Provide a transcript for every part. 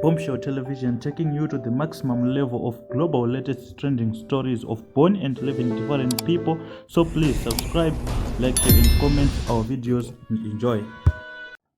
Bombshell Television taking you to the maximum level of global latest trending stories of born and living different people. So please subscribe, like, share, and comment our videos and enjoy.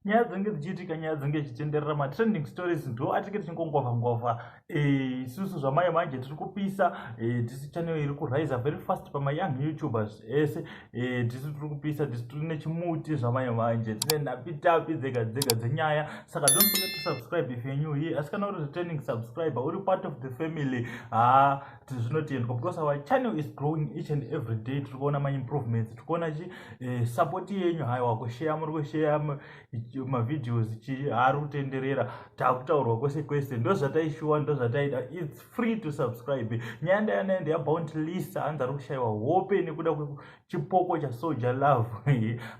nyaya dzinenge dzichiitika nyaya dzinenge dzichitenderera matrending stories ndo atinge tichingongova ngova eh, isusu zvamai manje tiri kupisa eh, tisi channel iri kuriser very fast pamayoung youtubers ese Eh, tisu tiri kupisa tisu tiri nechimuti zvamanye manje tine nhapitapi dzega dzega dzenyaya saka don't forget to subscribe if you're new here asi kana uri returning subscriber uri part of the family ha ah, tizvinotendwa because our channel is growing each and every day tiri kuona maimprovements tiri kuona chi eh, support yenyu haiwa kusheya muri kusheya mavideos chi haari kutenderera takutaurwa kwese kwese ndozvataishuwa ndozvataida its free to subscribe nyaya ndaya naye ndeya bount list hanzi ari kushayiwa hope nekuda kwechipoko chasoja love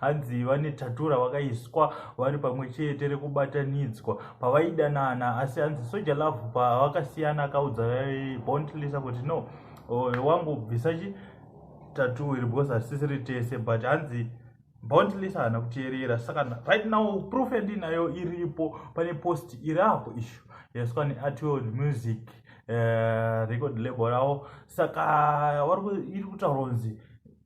hanzi vane tatura vakaiswa vari pamwe chete rekubatanidzwa pavaidanana asi hanzi soja love pavakasiyana akaudza bount list kuti no wangu bvisa chi tatu iri because hatisisiri tese but hanzi bondless haana kuteerera saka right now proof yandinayo iripo pane post iri apo ishu yaiswa neartword music uh, record label ravo saka iri kutaura kunzi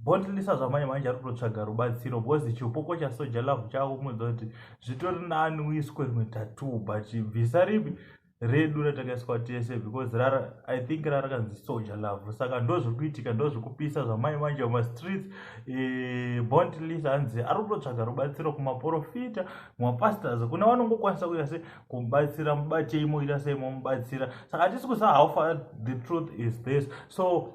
bondlisa zvamanje manje ari kutotsvaga rubatsiro bcause chipoko chasoja love chavo kumunza kuti zvitori nani uiswe rimwe tatoo but bvisa ripi redu ratakaiswa tese because rara i think rara kanzi soja love saka ndo zviri kuitika ndo zviri kupisa zvamai manje mumastreets e, eh, bond lis hanzi ari kutotsvaga rubatsiro kumaprofita mumapastors kuna vanongokwanisa kuita se kumubatsira mubatei moita sei momubatsira saka hatisi kusa how far the truth is this so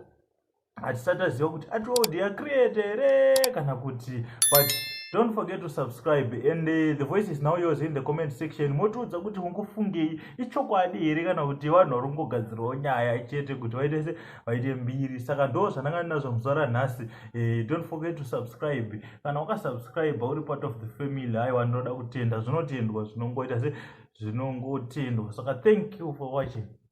hatisati taziva kuti atold ya create here kana kuti but don't forget to subscribe and uh, the voice is now yours in the comment section motiudza kuti mukufungei ichokwadi here kana kuti vanhu vari kungogadzirawo nyaya chete kuti vaite se vaite mbiri saka ndo zvandanga ndinazvo muzuva ranhasi uh, don't forget to subscribe kana ukasubscribe uri part of the family aiwa ndinoda kutenda zvinotendwa zvinongoita se zvinongotendwa saka thank you for watching